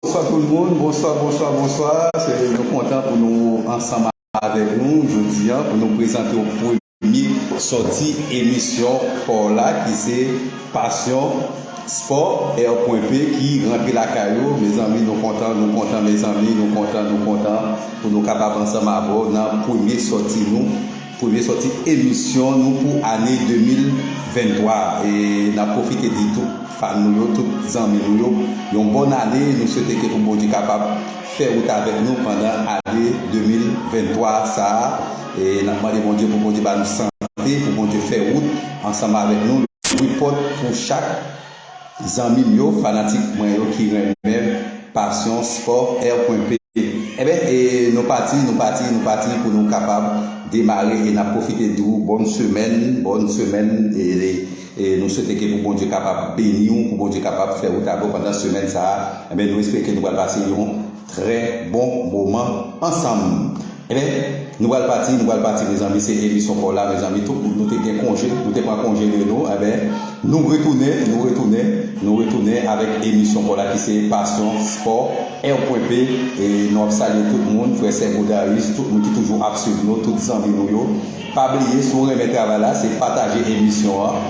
Bonswa tout moun bonswa bonswa bonswa se nou kontan pou nou ansanm avèk nou jodi an pou nou prezante w premye sòti emisyon pa w la ki se pasyon spò R pwen P ki rantre lakay ou mezanmi nou kontan nou kontan mezanmi nou kontan nou kontan pou nou kapab ansanm avè w nan premye sòti nou Premye sòti emisyon nou pou ane 2023 a e nap pwofite di tout fan nou yo, tout zanmi nou yo yon bòn ane, nou swete ke pou Bondye kapab fè wout avèk nou pandan ane 2023 sa a e nap mande Bondye pou Bondye ba nou sante pou Bondye fè wout ansanm avèk nou, louvri pòt pou chak. Zanmim yo fanatik mwen yo ki renmenm passion sport air pwen p enben e nou pati nou pati nou pati pou nou kapab demare e nap profite di ou bonn semèn bonn semèn e e nou swete ke pou Bondye kapab beniw pou Bondye kapab fè wout avèw pandan semèn sa enben nou espere ke nou pral pase yon Trè bon moman ansanm. Ebyen nou pral pati nou pral pati mezanmi se emisyon paw la mezanmi tout moun nou te gen konje nou te pran konje de nou ebyen nou retounen nou retounen nou retounen avèk emisyon paw la ki se pasyon spò èw pwen p nou ap salye tout moun frè sè Godaris tout moun ki toujou ap swiv nou tout zanmi nou yo pa bliye si w renmen travay la se pataje emisyon an.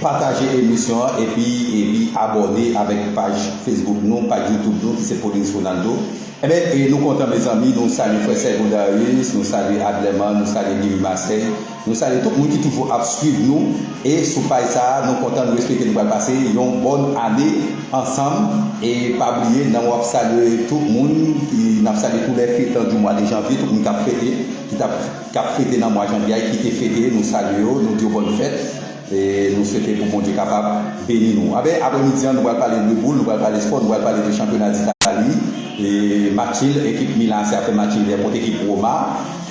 Pataje emisyon an epi epi abòne avèk paj Facebook nou, paj YouTube nou ki se Paulin's Ronaldo. Enben e nou kontan mezanmi nou salye frè Sèvon Darius, nou salye Adlerman, nou salye Guy Louis Marseille, nou salye tout moun ki toujou ap swiv nou e sou paj sa a nou kontan nou espeke nou pral pase yon bòn ane ansanm e pa bliye nan wap salye tout moun ki nap salye tou lè fetan du mwa de janvye tout moun kap fete ki tap K ap fete nan mwa janvye a e ki te fete, nou salye yo, nou di yo bòn fèt e nou swete pou Bondye kapab beni nou. Anben, aprè midi an, nou pral pale de boul, nou pral pale spò, nou pral pale de chanpyona d'Italie e matchil ekip Milan AC ap fè matchil dè kont ekip Roma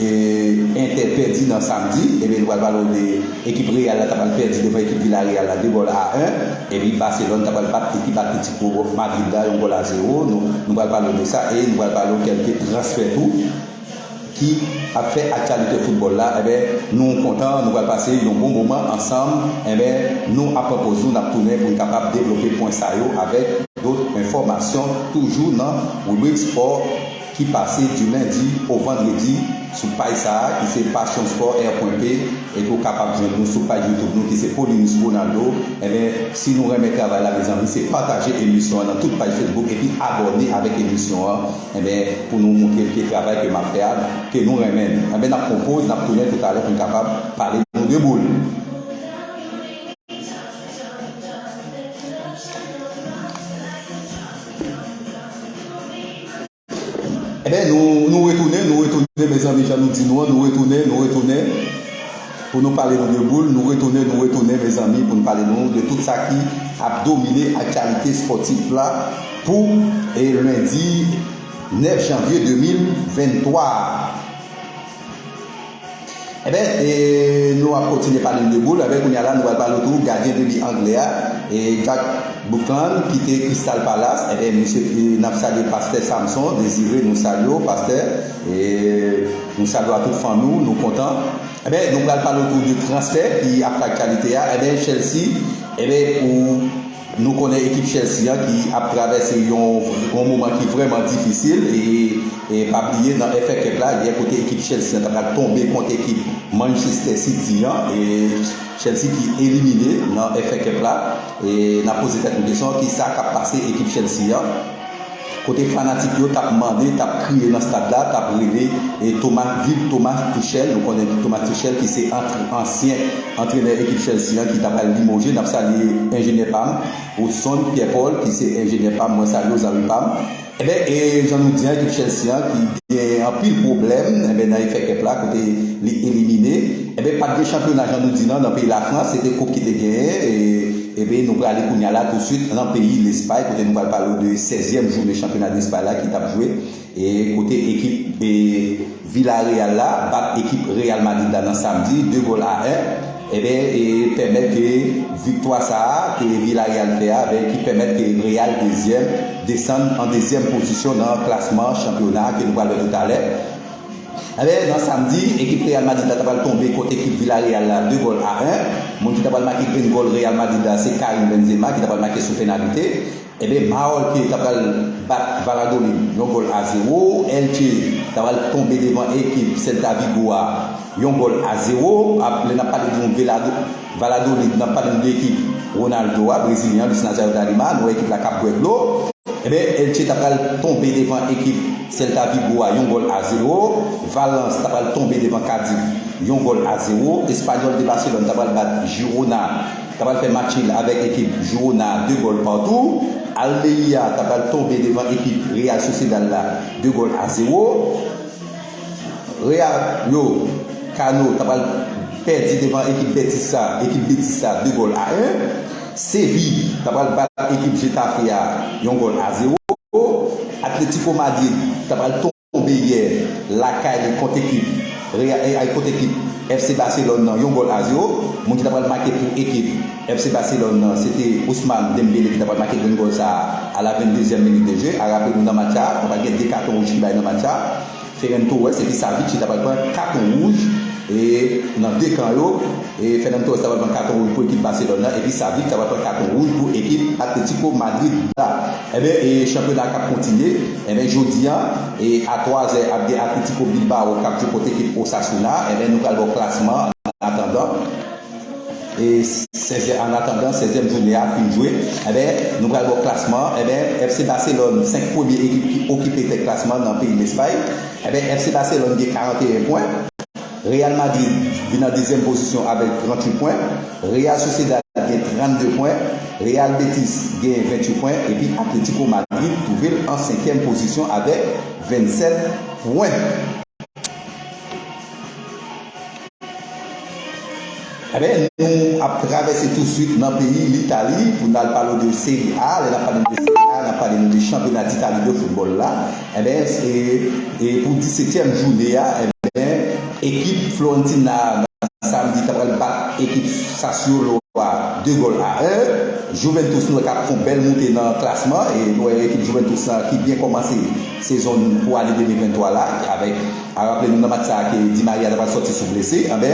e Inter pèdi nan samdi. Ebyen nou pral pale w de ekip Real la ta pral pèdi devan ekip Villarreal la 2 gòl a 1 epi Barcelone ta pral bat ekip Atlético Madrid la yon gòl a 0 nou nou pral pale w de sa e nou pral pale w kèlke transfè tou. ki ap fè aktyalite foutbòl la enben nou kontan nou pral pase yon bon moman ansanm enben nou ap pran poz nou nap tounen poun kapab devlope pwen sa yo avèk dot enfòmasyon toujou nan ribrik spò ki pase di lendi o vandredi sou paj sa ki se passion sport air pwen p epi ou kapab jwenn nou sou paj youtube nou ki se paulinus ronaldo enben si nou renmen travay la mezanmi se pataje emisyon an nan tout paj facebook epi abòne avèk emisyon an. Enben pou nou moutre ke travay ke map fè a ke nou renmen li. Enben nap pran yon poz nap tounen toutalè poun kapab pale nou de boul. Enben nou retounen nou retounen mezanmi jan nou di nou an nou retounen nou retounen. Pou nou pale nou de boul, nou retounen nou retounen mezanmi pou n pale nou de tout sa ki ap domine aktyalite spòtif la pou lendi 9 janvye 2023 a. Enben, nou ap kontinye pale nou de boul, enben kounya la nou pral pale tou gadyen debi angle a, Jack Buckland ki te Crystal Palace, enben misye, n ap salye pastè Samson Désiré nou salye w pastè. E nou salye a tout fanmi w, nou kontan. Enben nou pral pale otou de transfè ki ap fè aktyalite a. Enben Chelsea, enben pou nou konnen ekip Chelsea an ki ap travèse yon moman ki vrèman difisil e pa bliye nan FA Cup la yè kote ekip Chelsea an ta pral tonbe kont ekip Manchester City an e Chelsea ki elimine nan FA Cup la e n ap poze tèt nou kesyon kisa k ap pase ekip Chelsea an. Kote fanatik yo tap mande, tap kriye nan stad la, tap rele e Thomas viv Thomas Tuchel, nou konnen ki Thomas Tuchel ki se antre ansyen antrenè ekip Chelsea an ki ta pral limoje, nap salye enjenyè pam Woodson Pierre Paul ki se enjenyè pam mwen salye w zanmi pam. Enben e jan nou di an ekip Chelsea an ki gen anpil pwoblèm enben nan FA Cup la kote li elimine enben pat gen chanpyona jan nou di nan nan peyi la France se te koup ki te genyen e Ebyen nou prale kounya la touswit lan peyi Lespay kote nou pral pale w de 16 zièm jounen chanpyona Lespay la ki tap jwe e kote ekip Villareal la bat ekip Real Madrid la nan samdi 2 gòl a 1 ebyen e pèmèt ke viktwa sa a ke Villareal fè a ebyen ki pèmèt ke Real 2 zièm desann an 2 zièm pozisyon nan klasman chanpyona ke nou pral wè toutalè. Anben, nan samdi, ekip Real Madrid la ta pral tonbe kont ekip Villarreal la 2 gòl a 1. Moun ki ta pral make grenn gòl Real Madrid la se Karim Benzema ki ta pral make sou penalite. Anben, Maol ki ta pral bat Valladolid yon gòl a 0. Elche ta pral tonbe devan ekip Celta Vigo a yon gòl a 0. Lè n ap pale de yon Velado. Valladolid, Nap pale nou de ekip Ronaldo a, brezilyen Luis Nazario da Lima, nou wè ekip la kap bwè dlo, enben Elche ta pral tonbe devan ekip Celta Vigo a yon gòl a zewo, Valence ta pral tonbe devan Cadiz yon gòl a zewo, Espanyòl de Barcelone ta pral bat Girona, ta pral fè matchil avèk ekip Girona a de gòl patou, Almeria ta pral tonbe devan ekip Real Sociedad la de gòl a zewo. Real yo, Kano ta pral pèdi devan ekip Betis sa, ekip Betis sa 2 gòl a 1. Séville ta pral bat ekip Getafe a yon gòl a 0. Atlético Madrid ta pral tonbe yè lakay li kont ekip Real, kont ekip FC Barcelone nan yon gòl a 0. Moun ki ta pral make pou ekip. FC Barcelone nan se te Ousmane Dembélé ki ta pral make grenn gòl sa a a la 22 zièm minit de jeu a raple nou nan match sa a ta pral gen 2 katon wouj ki bay nan match sa a Ferran Torres epi Savic ki ta pral pran katon wouj e nan 2 kan yo e Ferran Torres ta pral pran katon wouj pou ekip Barcelone nan epi Savic ta pral pran katon wouj pou ekip Atlético Madrid la enben e chanpyona a k ap kontinye enben jodi an e a 3 zè ap gen Atlético Bilbao k ap jwe kont ekip Osasuna enben nou pral ba w klasman an atandan. E sèvyè anatandan sèvyèm joune a fin jwe enben nou pral wè klasman enben FC Baselòn 5 premye ekip ki okipe tèt klasman nan peyi Lespay enben FC Baselòn gen 41 pwen Real Madrid vin nan dezyèm pozisyon avèk 38 pwen Real Sociedad gen 32 pwen Real Betis gen 28 pwen epi Atletiko Madrid twouvel an senkyèm pozisyon avèk 27 pwen. Ebyen nou ap travèse tou swit nan peyi Litali pou n al pale de Serie A, lè n ap pale de Serie A n ap pale de chanpyona d'Italie de foutbòl la ebyen e pou 17 tièm joune a ebyen ekip Florentina nan samdi ta pral bat ekip Sassuolo a 2 gòl a 1, Juventus nou wè kap fon bèl moute nan klasman e nou wè ekip Juventus la ki byen kòmanse sezon pou ane 2023 la avèk. A raple nou nan match sa ke Di Maria ta pral sòti sou blese anbè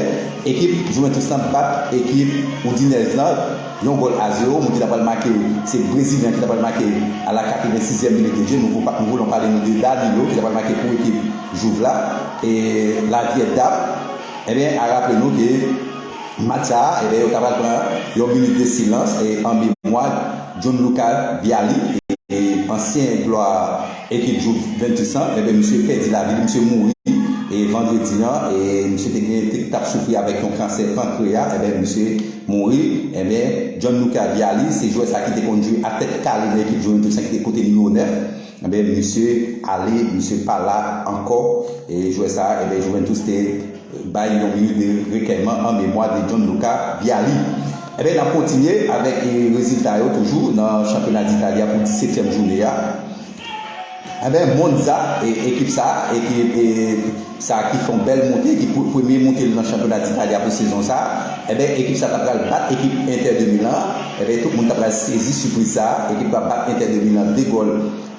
ekip Juventus lan bat ekip Udinese lan yon gòl a zewo, moun ki ta pral make se brezilyen an ki ta pral make a la 86 zièm minit de je, nou vou nou voulon pale nou de Danilo ki ta pral make pou ekip Juve la e la vyè dam enben a raple nou ke match sa enben yo ta pral pran yon minit de silans e an memwa Gianluca Vialli e ansyen glwa. Ekip Juventus lan enben misye pèdi lavi li misye mouri vandredi an e misye te gen te tap soufri avèk yon kansè pankreya enben misye mouri enben Gianluca Vialli se jwè sa ki te konn jwe a tèt kale nan ekip Juventus lan ki te pote nimewo 9 enben misye ale misye pa la ankò e jwè sa enben Juventus te Bay yon minit de rekèyman an memwa de John Luca Vialli. Enben, n ap kontinye avèk rezilta yo toujou nan chanpyona d'Italie a pou 17 tièm joune a. Enben, Monza, ekip sa, ekip sa ki fè yon bèl monte, ki premye monte l nan chanpyona d'Italie a pou sezon sa, enben ekip sa ta pral bat ekip Inter de Milan an, enben tout moun ta pral sezi sipriz sa, ekip la bat Inter de Milan 2 gòl.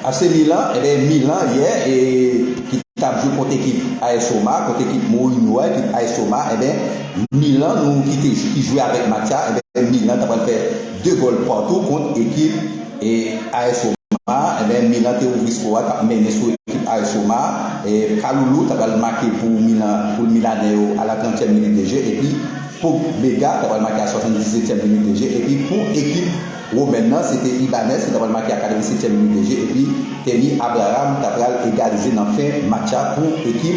AC Milan enben Milan yè ki tap jwe kont ekip AS Roma kont ekip Mourinho a ekip AS Roma enben Milan nou kite ki jwe avèk match sa enben Milan ta pral fè 2 gòl patou kont ekip AS Roma enben Milan te ouvri sko a tap mennen sou ekip AS Roma Kalulu ta pral make pou Milan pou Milanè yo a la 30 èm minit de je epi Pobega ta pral make a 77 èm minit de je epi pou ekip Gwo band nan se te Ibanez ki ta pral make a 87 ème minit de jeu epi Kemi Abraham ta pral egalize nan fen match a pou ekip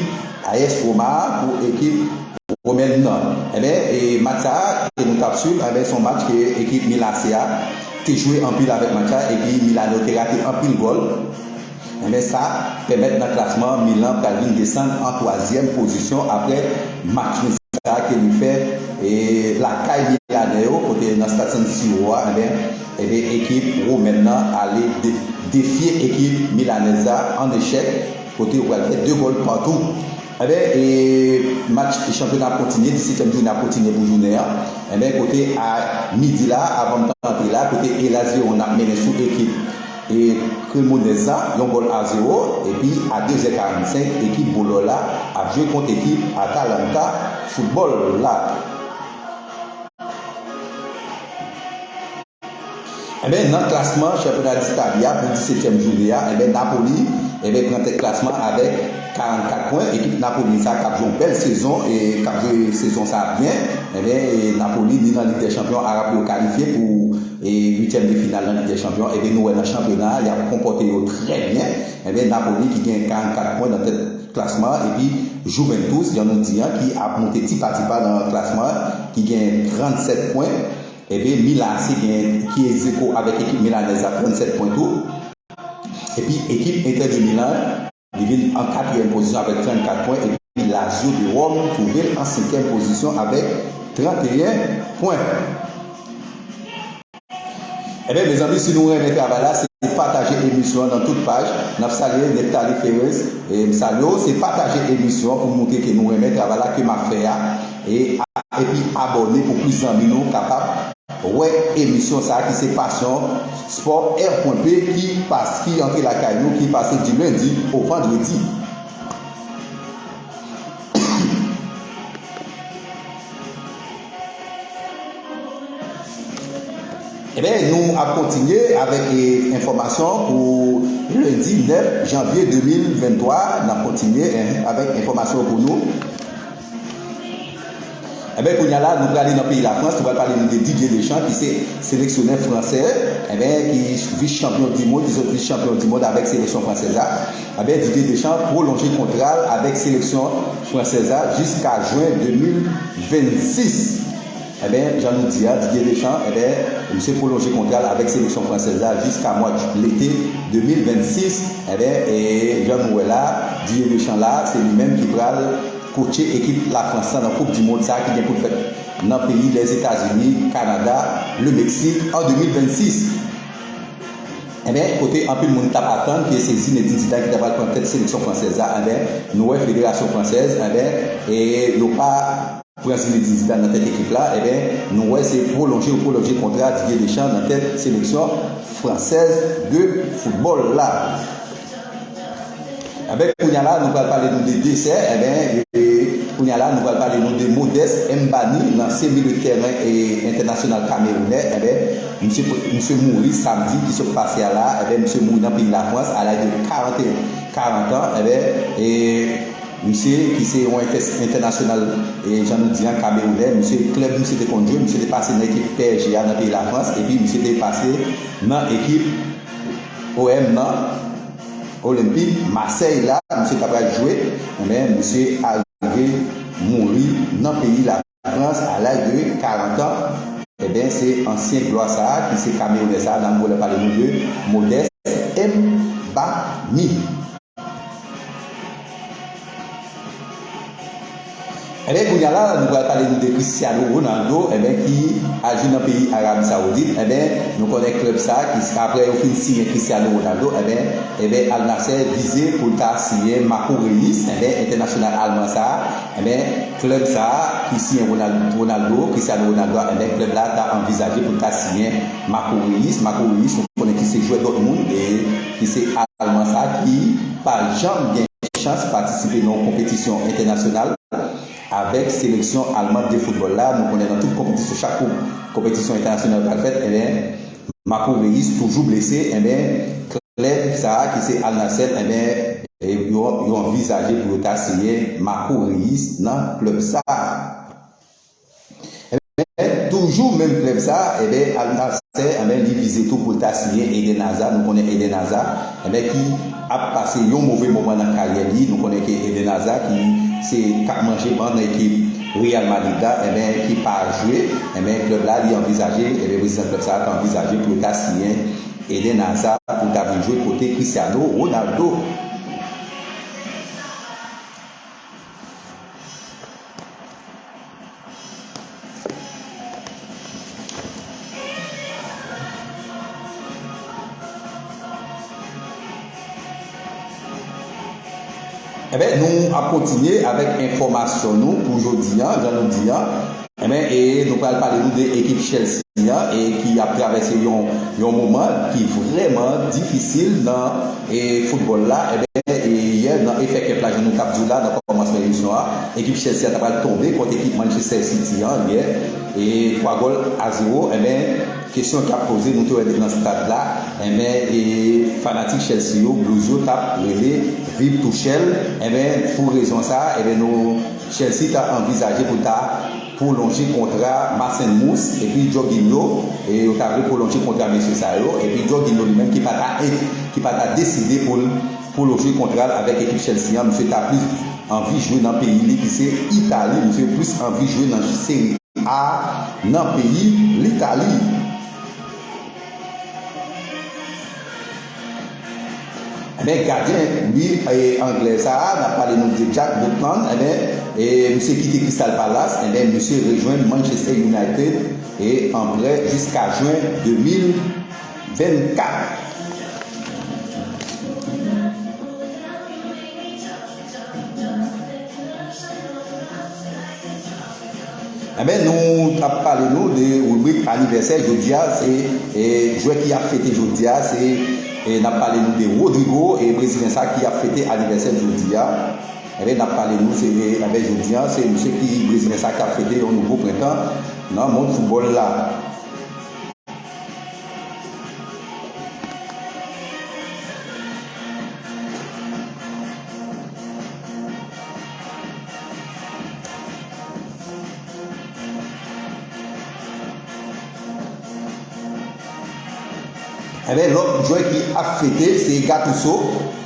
AS Roma a pou ekip Romain nan enben e match sa a ke nou tap swiv anben son match ke ekip Milan AC a te jwe anpil avèk match la epi Milano te rate anpil gòl. Men sa pèmèt nan klasman an Milan pral vin desann an twazyèm pozisyon aprè match win sa ke li fè lakay milanè yo kote nan stad San Siro a enben ekip womèn nan ale defye ekip milanèz la an echèk kote yo pral fè 2 gòl patou enben match chanpyona ap kontinye dissetyèm jounen ap kontinye pou jounen an enben kote a midi la avan m t antre la kote Hellas Verona ap mennen sou ekip. E Cremonese la yon gòl a zewo epi a 2 zè 45 ekip Bolo la ap jwe kont ekip Atalanta Football la. Enben nan klasman chanpyona dItali a pou 17 tièm joune a enben Napoli enben pran tèt klasman an avèk 44 pwen ekip Napoli sa kap jwe yon bèl sezon e kap jwe sezon sa byen enben Napoli ni nan lig dè chanpyon Arab yo kalifye pou E uityèm de final nan Lig dè Chanpyon an, enben nou wè nan chanpyona a y ap konpòte yo trè byen. Enben Napoli ki gen 44 pwen nan tèt klasman an epi Juventus jan nou di an ki ap moute ti pa ti pa nan klasman an ki gen 37 pwen. Enben Milan AC gen ki egzeko avèk ekip milanèz la 37 pwen tou. Epi ekip Inter de Milan. Li vin an katriyèm pozisyon avèk 34 pwen epi Lazio de Ròm twouve l an senkyèm pozisyon avèk 31 pwen. Enben mezanmi si nou renmen travay la se pataje emisyon an nan tout paj nap salye Neptalie Ferez m salye w se pataje emisyon an pou m moutre ke nou renmen travay la ke map fè a. E a epi abòne pou plis zanmi nou kapab wè emisyon sa ki se passion sport R.P ki pas ki antre lakay nou ki pase du lundi au vendredi. Ebyen nou ap kontinye avèk enfòmasyon pou lundi 9 janvier 2023 nap kontinye avèk enfòmasyon pou nou. Enben kounya la nou prale nan peyi Lafrans, nou pral pale nou de Didier Deschamps ki se seleksyonè fransè enben ki vis chanpyon di mond, li sot vis chanpyon di mond avèk seleksyon fransèz la. Enben Didier Deschamps pwolonje kontra l avèk seleksyon fransèz la jiska jwen 2026. Enben, jan nou di a, Didier Deschamps, enben, misye pwolonje kontra l avèk seleksyon fransèz la jiska mwa d lete 2026. Enben, e jan nou wè la, Didier Deschamps la, se li menm ki pral kotche ekip Lafrans lan nan koup di mond sa a ki gen pou l fèt nan peyi Lèzetazini, Kanada, Lemeksik an 2026. Enben, kote anpil moun t ap atann ke se Zinedine Zidane ki ta pral pran tèt seleksyon fransèz la, enben, nou wè federasyon fransèz, enben, e yo pa. Pran Zinedine Zidane nan tèt ekip la enben nou wè se pwolonje ou pwolonje kontra Didier Deschamps nan tèt seleksyon fransèz de foutbòl la enben kounya la nou pral pale nou de Deser enben kounya la nou pral pale nou de Modeste Mbani lansye milieu de tèren entènasyonal kamerounè enben misye misye mouri samdi ki sot pase a la enben misye mouri nan peyi lafrans a laj de 41 40 ans enben e. Misye, ki se yon entènasyonal jan nou di an kamewounè, misye klèb misye te konn jwe, misye te pase nan ekip psg a nan peyi Lafrans epi misye te pase nan ekip OM nan, Olympique Marseille la misye ta pral jwe men misye arive mouri nan peyi la. Frans a laj de 40 an, enben se ansyen glwa sa a ki se kamewounè sa a nan vole pale nou de Modeste Mbami. Enben kounya la nou pral pale nou de Cristiano Ronaldo enben ki a jwe nan peyi Arabi Saoudit enben nou konnen klèb sa a ki aprè yo fin siyen Cristiano Ronaldo enben enben Al Nassr vize pou l ta siyen Marco Reus enben entènasyonal alman sa a enben Klèb sa a ki siyen Ronaldo, Cristiano Ronaldo a enben klèb la ta anvizaje pou l ta siyen Marco Reus, Marco Reus nou konnen ki se jwè Dortmund e ki se alman sa ki pa janm gen chans patisipe nan yon konpetisyon entènasyonal avèk seleksyon alman de foutbòl la nou konnen nan tout konpetisyon chak konpetisyon entènasyonal pral fèt enben Marco Reus toujou blese enben klèb sa ki se Al Nassr enben yo anvizaje pou yo ta siyen Marco Reus nan klèb sa enben toujou menm klèb sa enben Al Nassr enben li vize tou poul ta siyen Eden Hazard nou konnen Eden Hazard Lè ki ap pase yon move moman nan karyè li, nou konnen ke Eden Hazard ki se kap manje ban nan ekip Real Madrid la enben ki pa jwe enben klèb la li anvizaje enben prezidan klèb sa a ta anvizaje pou yo ta siyen Eden Hazard pou ta vin jwe kote Cristiano Ronaldo. Enben nou ap kontinye avèk enfòmasyon nou pou jodi an, jan nou di an. Enben e nou pral pale nou de ekip Chelsea an e ki ap travèse yon yon moman ki vrèman difisil nan E foutbòl la, enben, yè nan FA Cup la, jan nou t ap di w la nan kòmansman emisyon an, ekip Chelsea a ta pral tonbe kont ekip Manchester City an yè, e 3 gòl a zewo, enben, kesyon ki ap poze, nou te wè depi nan stad la, enben, e fanatik Chelsea yo, Blues yo, t ap rele Viv Tuchel, enben, pou rezon sa a, enben, nou, Chelsea ta anvizaje pou l ta. pwolonje kontra Mason Mouss epi Jorginho e yo ta vle pwolonje kontra mesye sa yo epi Jorginho li menm ki pa ta e ki pa ta deside pou l pwolonje kontra l avèk ekip Chelsea an misye ta plis anvi jwe nan peyi li ki se Itali misye plis anvi jwe nan Serie A nan peyi Litali. Ebyen gadyen liv anglè sa a nap pale nou de Jack Butland ebyen misye kite Crystal Palace ebyen misye rejwenn Manchester United e an prè jiska jwen 2024. Enben nou tap pale nou de ribrik anivèsè jodia se jwè ki ap fete jodia se nap pale nou de Rodrigo e brezilen sa ki ap fete anivèsè l jodia enben nap pale nou se enben jodia se misye ki brezilen sa ki ap fete yon nouvo prentan nan mond foutbòl la. Ebyen lòt jwè ki ap fete se Gattuso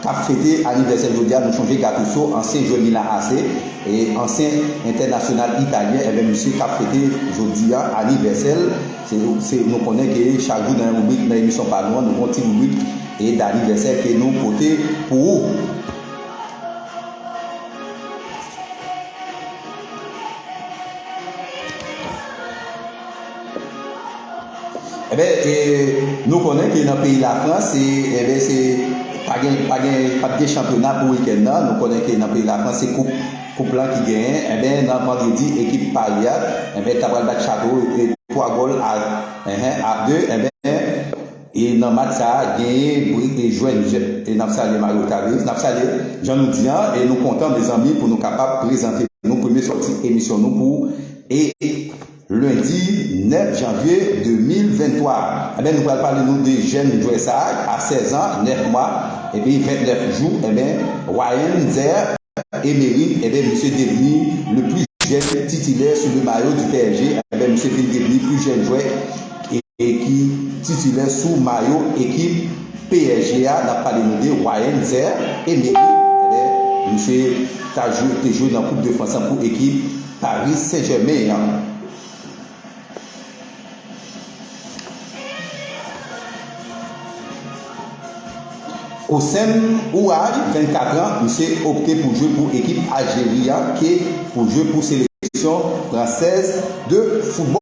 kap fete anivèsèl jodia nou sonje Gattuso ansyen jwè Milan AC e ansyen entènasyonal italyen ebyen misye kap fete jodia anivèsèl se nou konnen ke chak jou nan ribrik nan emisyon pa nou an nou gen yon ti ribrik e danivèsè ke nou pote pou ou. Enben e nou konnen ke nan peyi Lafrans se enben se pa gen pa gen pap gen chanpyona pou wikèn nan. Nou konnen ke nan peyi Lafrans se koup koup lan ki genyen. Enben nan vandredi ekip Pari a enben ta pral bat Chato e 3 gòl a 1 a 2 enben. E nan match sa a genyen bri e jwenn jè. E nap salye Mario Taveus, nap salye jan nou di an e nou kontan mezanmi pou nou kapab prezante nou premye sòti emisyon nou pou e lendi 9 janvye 2023 a. Enben nou pral pale nou de jèn jwè sa a 16 an 9 mwa epi 29 jou enben Ryan Zerr Emery enben misye devni le plus jeune titulaire sous le maillot du PSG enben misye vin devni plus jeune jwè e ki titilè sou mayo ekip psg a nap pale nou de Ryan Zerr Emery ebyen misye ta jwe te jwe nan koup de frans lan pou ekip Paris Saint Germain an. Houssem Ouahy 24 ans misye opte pou jwe pou ekip Algérie an ke pou jwe pou seleksyon fransèz de football.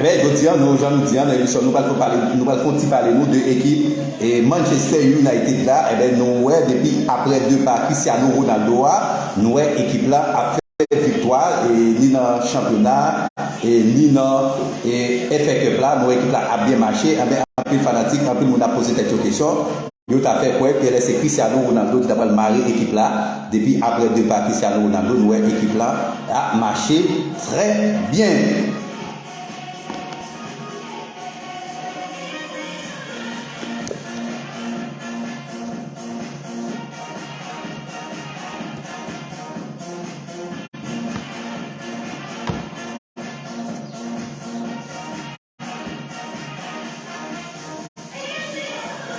Ebyen jodia nou jan nou di an nan emisyon nou pral fon pale nou pral fon ti pale nou de ekip e Manchester United la ebyen nou wè depi aprè depa Cristiano Ronaldo a nou wè ekip la ap fè viktwa e ni nan chanpyona e ni nan e FA Cup la nou wè ekip la ap byen mache ebyen anpil fanatik anpil moun ap poze tèt yo kesyon Yo ta fè kwè pls se Cristiano Ronaldo ki ta pral mare ekip la, depi aprè depa Cristiano Ronaldo nou wè ekip la ap mache trè byen.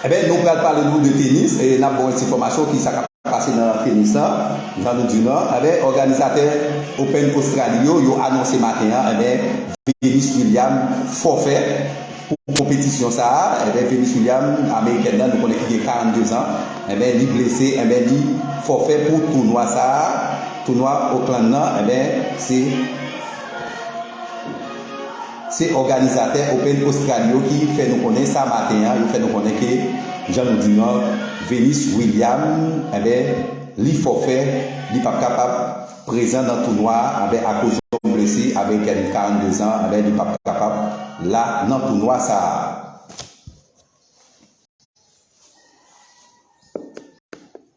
Eben nou pral pale nou de tenis e nap baw ensifomasyon kisa kap pase nan tenis la jan nou diw nan eben òganizatè open ostrali yo yo anonse maten an eben venus william fòfè pou konpetisyon sa eben venus william amerikèn nan nou konnen ki gen 42 zan eben li blese eben li fòfè pou tounwa sa tounwa oklann nan eben se. Se òganizatè Open Ostrali yo ki fè nou konnen sa maten an, yo fè nou konnen ke jan nou di nou an, Venus William enben li fòfè, li pap kapab prezan nan tounwa a anben akoz yon blese amerikèn 42 zan enben li pap kapab la nan tounwa sa a.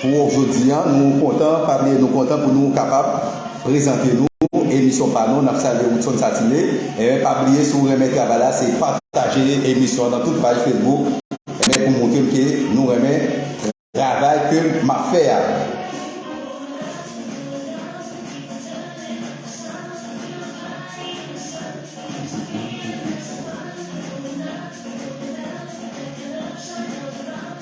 Pou wou jodi an nou kontan pa bliye nou kontan pou nou kapab prezante nou emisyon pa nou nap salye Woodson Satime enben pa bliye si w renmen travay la se pataje emisyon an nan tout paj Facebook enben pou moutre m ke nou renmen travay ke map fè a.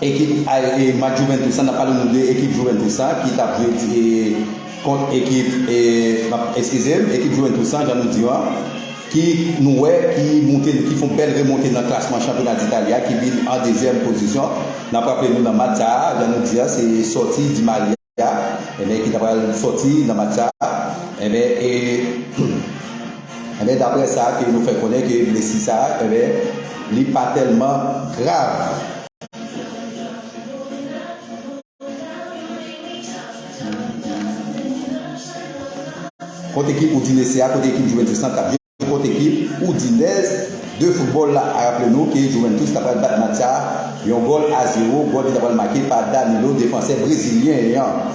Ekip Match Juventus la, n ap pale nou de ekip Juventus la ki t ap jwe kont ekip, n ap, eskize m, ekip Juventus la jan nou di yo a, ki nou wè ki moute, ki fon bèl remonte nan klasman chanpyona d'Italie a ki vin an dezyèm pozisyon. N ap raple nou nan match sa a, jan nou di a, se sòti Di Maria. a enben ki ta pral sòti nan match sa a enben e enben daprè sa ke nou fè konnen ke blesi sa a enben li pa tèlman grav. Kot ekip Udinese a, kot ekip Juventus lan kap jwe? Kot ekip Udinez de football la a raple nou ke Juventus ta pral bat Macha yon gòl a zewo, gòl ki ta pral make pa Danilo defansè brezilyen an.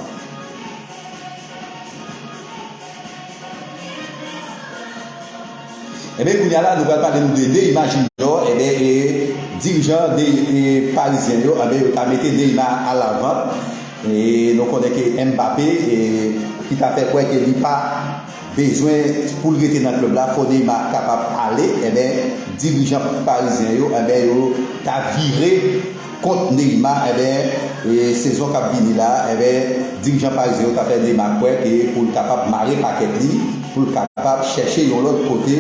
Enben kounya la nou pral pale nou de Neymar Junior enben e dirijan parizyen yo enben yo ta mete Neymar a la vant e nou konnen ke Mbappé ki ta fè kwè ke li pa Bezwen poul rete nan club la fò Neymar kapab ale enben dirijan parizyen yo enben yo ta vire kont Neymar enben sezon kap vini la enben dirijan parizyen yo ta fè Neymar kwè ke poul kapab mare pakèt li poul kapab chèche yon lòt kote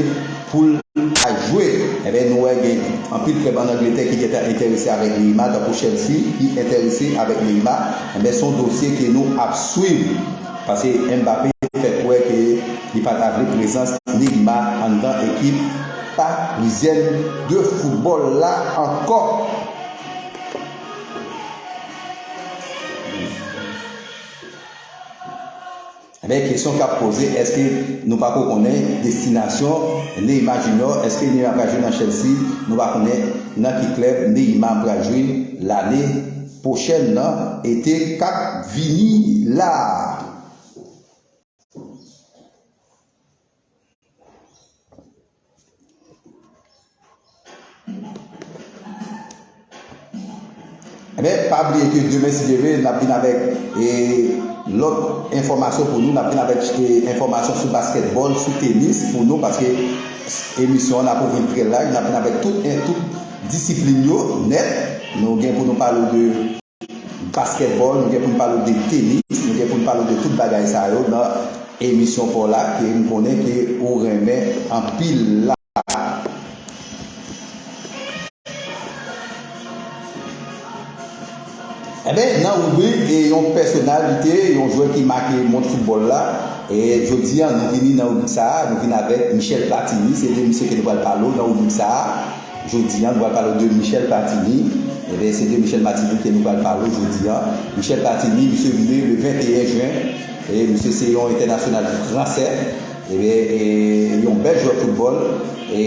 poul ta jwe enben nou wè gen anpil club an Angletè ki gentan entèrese avèk Neymar tankou Chelsea ki entèrese avèk Neymar enben son dosye ke nou ap swiv. Pase Mbappé fè kwè ke li pa ta vle prezans Neymar anndan ekip Parisienne de football la ankò. Kesyon kap poze eske nou pako konnen destinasyon Neymar Junior, eske Neymar pral jwe nan Chelsea, nou pa konnen nan ki klèb Neymar pral jwe lane pwochèn nan ete kap vini la a men pa bliye ke demen si Dye vle nap vin avèk lòt enfòmasyon pou nou nap vin avèk enfòmasyon sou baskètbòl sou tenis pou nou paske emisyon an nap ouvri l trè laj nap vin avèk tout Disiplin yo nèt, nou gen pou nou pale w de baskètbòl, nou gen pou n pale w de tenis, nou gen pou n pale w de tout bagay sa yo nan emisyon pa w la ke m konnen ke ou renmen anpil la. Enben, nan ribrik Yon pèsonalite, yon jwè ki make mond foutbòl la, jodi a nou vini nan ribrik sa a, nou vin avèk Michel Platini, se de misye ke nou pral pale w nan ribrik sa a jodi a, nou pral pale w de Michel Platini, enben se de Michel Matini ke nou pral pale w jodi a. Michel Platini, misye vini le 21 jen, e misye se yon entènasyonal fransè, enben e yon bèl jwè foutbòl, e.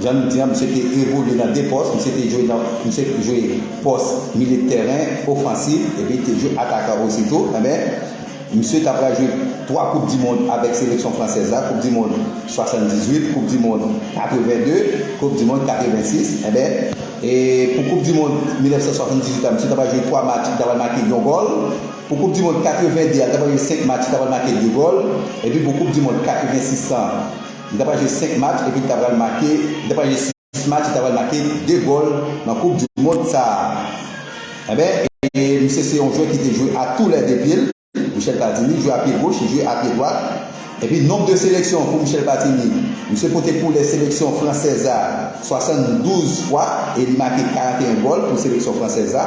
Jan nou di an, misye te evolye nan 2 pòs, misye te jwe nan, misye jwe pòs milye de tèren, ofansif, epi li te jwe atakan osi tou. Enben, misye ta pral jwe 3 koup di mond avèk seleksyon fransèz la, koup di mond 78, koup di mond 82, koup di mond 86. Enben, e pou koup di mond 1978 la, misye ta pral jwe 3 match, li ta pral make yon gòl. Pou koup di mond 82 a, li ta pral jwe 5 match, li ta pral make 2 gòl. Epi pou koup di mond 86 lan, Li ta pral jwe 5 match epi li ta pral make li ta pral jwe 6 match li ta pral make 2 gòl nan koup du mond sa a enben e misye se yon jwè ki te jwe a tou lè 2 pye l Michel Platini jwe a pye goch li jwe a pye dwat epi nonb de seleksyon pou Michel Platini misye pote koulè seleksyon fransèz a 72 fwa e li make 41 gòl pou seleksyon fransèz a.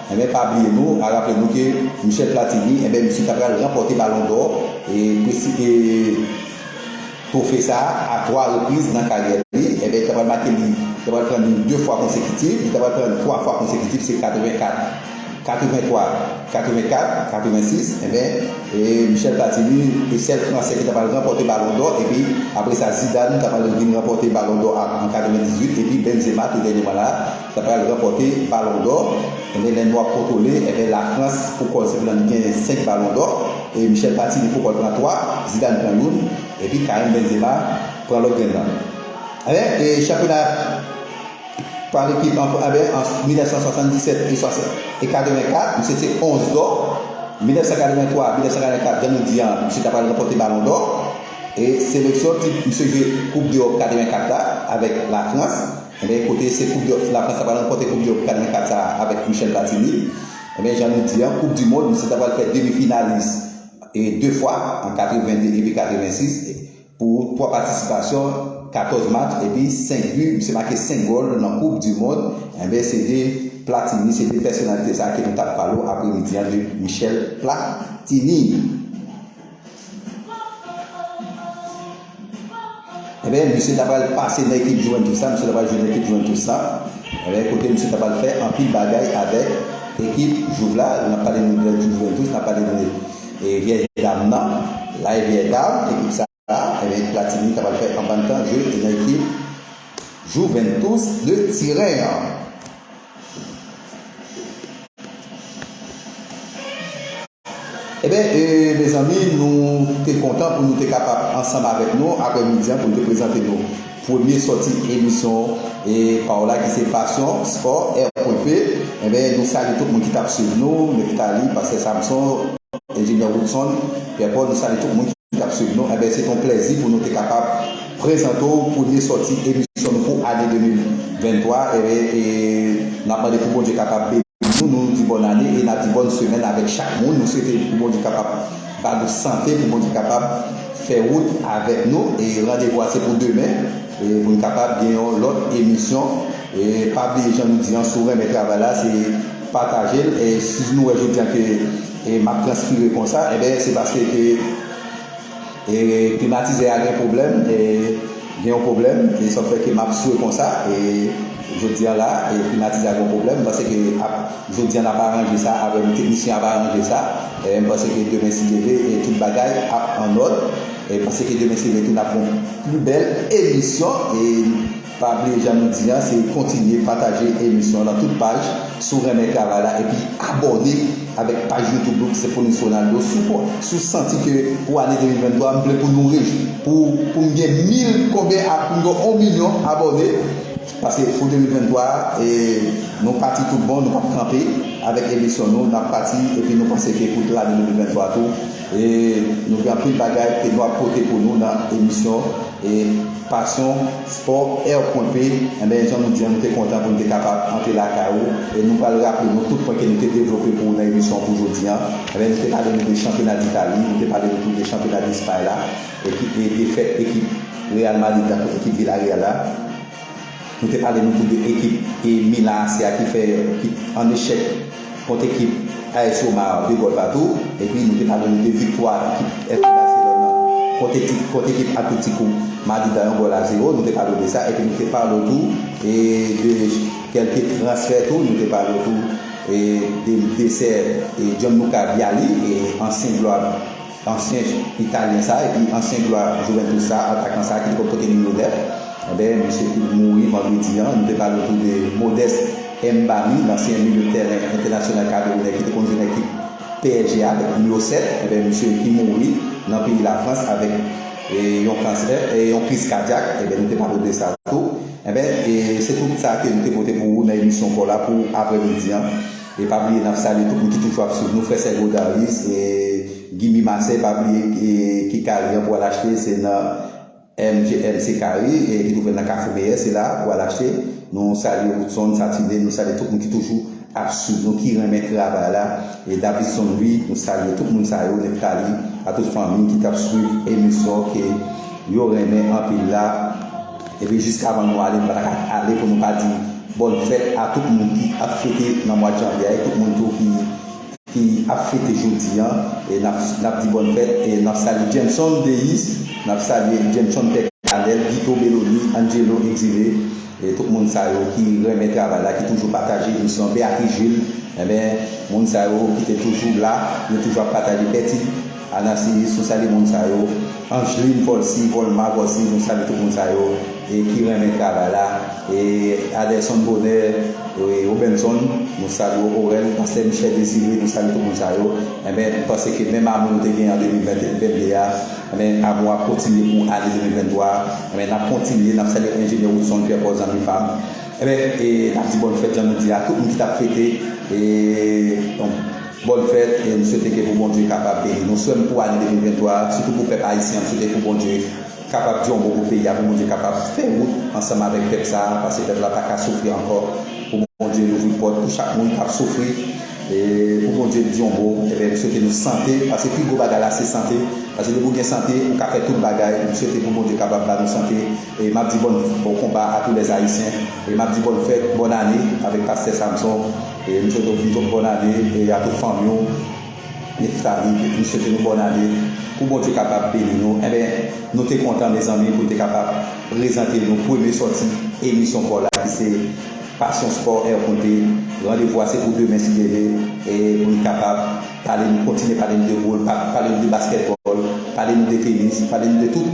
Enben pa bliye nou a raple nou ke Michel Platini enben misye ta pral ranpòte balon dò e twofe sa a 3 repriz nan karyè li enben li ta pral make li ta pral pran li 2 fwa konsekitif li ta pral pran li 3 fwa konsekitif se 84 83 84 86 enben e Michel Platini e sèl fransè ki ta pral ranpòte balon dò epi apre sa Zidane ta pral vin ranpòte balon dò a an 98 epi Benzema tou dènyèman la Sa pral ranpòte balon dò enben lè nou ap kontwole enben la frans pou kòl senpl lan li gen 5 balon dò e Michel Platini pou kòl pran 3 Zidane pran youn epi Karim Benzema pran lòt grenn lan enben e chanpyona pa lekip anfran enben an 1977 e 60 e 84 misye se 11 dò 1983 1984 jan nou di an misye ta pral ranpòte balon dò e seleksyon ti misye jwe koup deròp 84 la avèk la frans. Enben ekote se koup dòt lafrans ta pral ranpòte koup dòt kal nan kad sa avèk Michel Platini enben jan nou di an koup di mond se ta pral fè demi finalis e 2 fwa an 82 epi 86 pou 3 patisipasyon 14 match epi 5 bi misye make 5 gòl nan koup di mond enben se de Platini se de pèsonalite sa ke nou tap pale w apremidi an de Michel Platini. Ebyen misye ta pral pase nan ekip Juventus la, misye ta pral jwe nan ekip Juventus la, ebyen kote misye ta pral fè anpil bagay avèk ekip Juve la, nap pale nou de Juventus, nap pale nou de vyèj dam nan, la e vyèj dam, ekip sa a, ebyen Platini ta pral fè anpil tan jwe nan ekip Juventus de Tiren an. Eben mezanmi nou te kontan pou nou te kapab ansanm avèk nou aprè midi an pou nou te prezante nou premye sòti emisyon paola ki se passion sport air pwen p eben nou salye tout moun ki tap swiv nou Nephtalie pastè Samson enjenyè Woodson Pierre Paul nou salye tout moun ki tap swiv nou eben se te yon plèzi pou nou te kapab prezante w premye sòti emisyon nou pou ane 2023 eben nap mande pou Bondye kapab beni. Nou nou di bòn ane e na di bòn semèn avèk chak moun nou swete pou Bondye kapab ba nou sante pou Bondye kapab fè wout avèk nou e randevou a se pou demen pou n kapab gen yon lòt emisyon e pa bliye jan nou di an si w renmen travay la se pataje l e si nou wè jodi an ke e map transpire konsa enben se paske ke. E klimatizè a gen pwoblèm e gen yon pwoblèm e sa fè ke map swe konsa e jodi an la e klimatizè a gen yon pwoblèm m panse ke ap jodi an nap aranje sa avèm teknisyen ap aranje sa e m panse ke demen si Dye vle e tout bagay ap an nòd e m panse ke demen si Dye vle tou nap gen yon pi bèl emisyon e. Pa bliye jan nou di an se kontinye pataje emisyon nan tout paj si w renmen travay la epi abòne avèk paj youtube nou ki se Foniz Ronaldo si w si w santi ke pou ane 2023 m vle pou nou rich pou pou m gen mil konbyen a pou m gen on milyon abòne paske pou 2023 a e nou pati tout bon nou pap kanpe avèk emisyon nou n ap pati epi nou panse ke pou lane 2023 tou e nou gen anpil bagay ke nou ap pote pou nou nan emisyon E passion, sport, air point p, enben jan nou di an nou te kontan pou nou te kapab antre lakay ou e nou pral raple nou tout pwen ke nou te devlope pou ou nan emisyon pou jodi an. Enben nou te pale nou de chanpyona d'Italie, nou te pale nou tou de chanpyona d'Espagne la e ki e defèt ekip Real Madrid la kont ekip Villarreal la. Nou te pale nou tou de ekip Milan AC a ki fè ki an echèk kont ekip AS Roma 2 gòl patou epi nou te pale nou de viktwa ekip FC Barcelone an kont ekip kont ekip Atletico Madrid la yon gòl a zewo nou te pale w de sa epi nou te pale w tou de kèlke transfè tou nou te pale w tou de desè Gianluca Vialli ansyen glwa Ansyen italyen sa epi ansyen glwa Juventus sa, atakan sa ki te konn pote nimewo 9, enben misye tou mouri vandredi an. Nou te pale tou de Modeste Mbami, lansyen milye tèren entènasyonal kamerounè ki te konn jwe nan ekip psg a avèk nimewo 7, enben misye ki mouri nan peyi Lafrans avèk yon kansè, yon kriz kadyak, enben nou te pale w de sa tou. Enben, se tout sa ke nou te pote pou ou nan emisyon paw la pou aprèmidi an. E pa bliye nap salye tout moun ki toujou ap swiv nou frè sè Godaris e Gimmy Marseille pa bliye e ki kari an pou al achte se nan MGMC Kari e ki twouvel nan kafou meyè se la pou al achte nou salye Woodson Satine nou salye tout moun ki toujou ap swiv nou ki renmen travay la e Davidson Louis nou salye tout moun sa yo Nephtali a tout fanmi ki tap swiv emisyon ke yo renmen anpil la. Epi jiskavan nou ale nou pa ta ka ale pou nou pa di bòn fèt a tout moun ki ap fete nan mwad janvye a e tout moun tou ki ap fete jodi an e n ap di bòn fèt e n ap salye Jameson Deyis n ap salye Jameson Pè Kanèl Guito Beloni Angelo Exilé e tout moun sa yo ki renmen travay la ki toujou pataje emisyon an Beatrice Jules enben moun sa yo ki te toujou la yo toujou ap pataje Bèti. Anasilis nou salye moun sa yo, Angeline Volcy, Volma Volcy nou salye tout moun sa yo e ki renmen travay la e Adelson Bonheur e Robenson nou salye w Orel Pastè Michel Desire nou salye tout moun sa yo enben nou panse ke menm amou nou te genyen an 2022 a enben amou a ap kontinye pou ane 2023 a enben n ap kontinye n ap salye Enjenyè Woodson Pierre Paul zanmi pa m enben e n ap di bòn fèt jan nou di a tout moun ki t ap fete e. Bonne fête e m swete ke pou Bondye kapab beni nou frèm pou ane 2023 a sitou pou pèp ayisyen an m swete pou Bondye kapab di yon mo pou peyi a pou Bondye kapab fè wout ansanm avèk pèp sa a pase pèp la paka soufri ankò pou Bondye louvri pòt pou chak moun kap soufri e pou Bondye di yon mo ebyen m swete nou sante pase pi gwo bagay la se sante pase depi ou gen sante ou ka fè tout bagay m swete pou Bondye kapab ba nou sante e map di bòn konba a tou lè ayisyen e map di bòn fèt bòn ane avèk pastè Samson. M swete w yon bòn ane e a tout fanmi w e fravit m swete nou bòn ane pou Bondye kapab beni nou enben nou te kontan mezanmi pou n te kapab prezante nou premye sòti emisyon spò la ki se passion sport air konte randevou a se pou demen si Dye ve e pou n kapab pale nou kontinye pale nou de boul pale nou de baskètbòl pale nou de tenis pale nou de tout.